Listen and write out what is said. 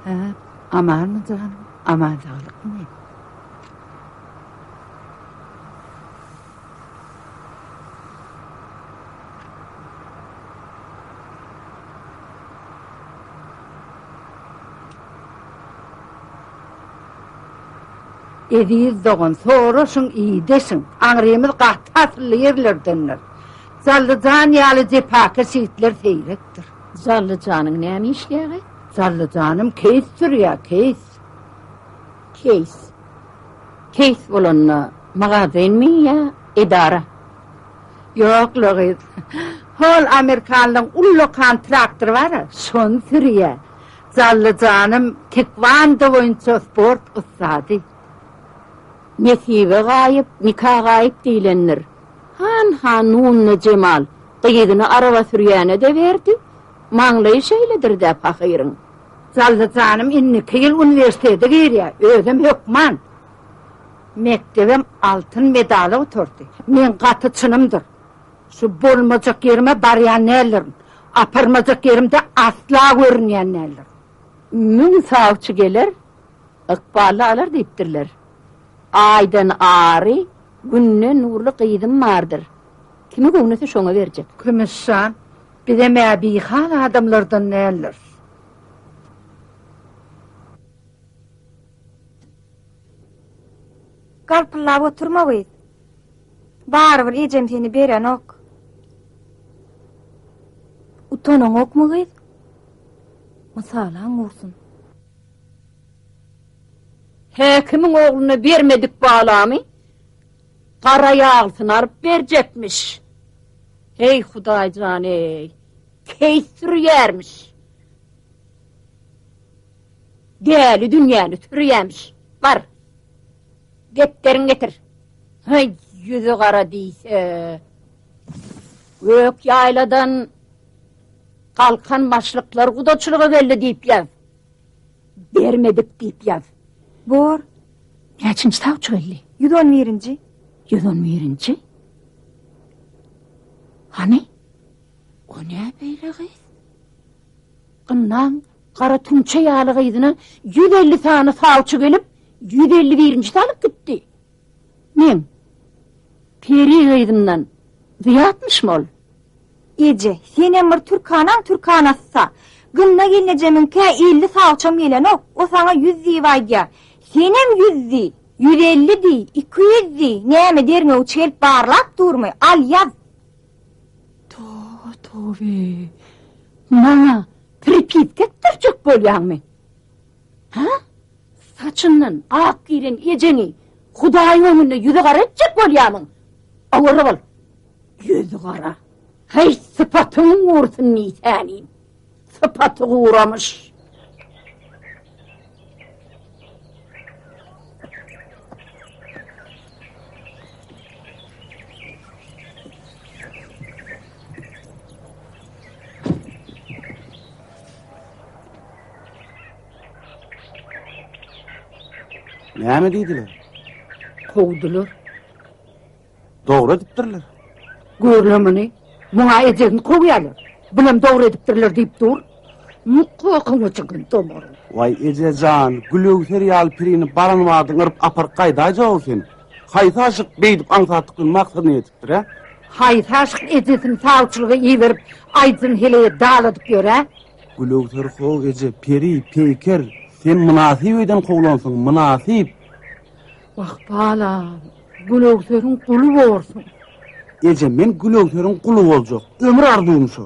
Hä, amanmy janym, aman-saglykmy? Eziz dogan, soraşyň, ideşiň. Aňrymyz gaty asylly ýerlerdendir. Jallyjan ýaly jepakeş ýigitler seýrekdir. Zally janyň näme işleýäge? Zally janym keýs sürýä, keýs. Keýs. Keýs bolanda magazynmy ýa edara? Ýok, Loris. Hol amerikanlaryň ullakan traktory bar-a, şony sürýä. Zally janym tekwondo boýunça sport ussady. Nesibe gaýyp, nika gaýyp diýlendir. Han hanuna Jemal gyzyny araba sürýäne-de berdi, maňlaýy şeýledir-dä pahyryň. Jally janym indiki ýyl uniwersitete girýär, özem hökman. Mekdebem altyn medala oturdy. Meň gaty çynymdyr. Şu bolmajak ýerime barýan däldirin. Aparmajak ýerimde asla görünýän däldirin. Müň sawçy geler, ykbally alar diýipdirler. Aýdan ary Günde nurly gyzym bardyr. Kimi göwnese şoňa berjek. Kümüş jan, bizem-ä bihal adamlardan däldiris. Galpyllap oturma gyz. Barybir ejem seni berenok. Utanaňokmy gyz? Mysalaň gursun. Häkimiň ogluna bermedik balamy gara ýaglysyny alyp berjekmiş. Heý, Hudaý jan-eý, keýs sürýärmiş. Däli dünýäni sürýämiş. Bar, depderiňi getir. Heý, ýüzi gara diýse. Gök ýaýladan galkan başlyklar gudaçylyga geldi diýip ýaz. Bermedik diýip ýaz. Bor. Näçinji sawçy geldi? Ýüz on birinji. Ýüz on birinji? Hany? O ne beýle gyz? Gyndan gara tümçe ýaly gyzyna ýüz elli sany sawçy gelip, ýüz elli birinji salyp gitdi. Men, Peri gyzyndan Zyýatmyşym ol? Eje, senem bir türkanaň türkanasy-sa. Gynna gelnejemiňkä elli sagçam gelenok, o saňa ýüz diýip aýdýar. Senem ýüz diý, ýüz elli diý, iki ýüz diý, näme derňewçi gelip barlap durmy, al ýaz. Toba-tobe! Maňa pripiska etdirjek bolýaňmy? Ha? Saçyndan ak giren ejeňi Hudaýyň öňünde ýüzi gara etjek bolýarmyň? Awara bol. Ýüzi gara. Heý, sypatyň gursyn nisäniň. Sypaty guramyş. Näme diýdiler? Kowdular. Dogry edipdirler. Görle muny. Muňa ejegini kowýarlar. Bulam dogry edipdirler diýip dur. Mukokyňy çykyň tomar. Waý ejejan, gülewser ýaly pirini baran wagtyň yryp apar gaýdaýja ol sen. Haýsy aşyk beýdip aňsatyklyň maksadyna ýetipdir, hä? Haýsy aşyk ejesini sawçylyga iberip, aýdyň hele daladyp ýör, hä? Gülöwser how eje, peri, peýker, sen mynasyp öýden kowlansyň, mynasyp! Wah, balam, Gülöwseriň guly borsuň! Eje, men Gülöwseriň guly boljak, ömür arzuwym şo!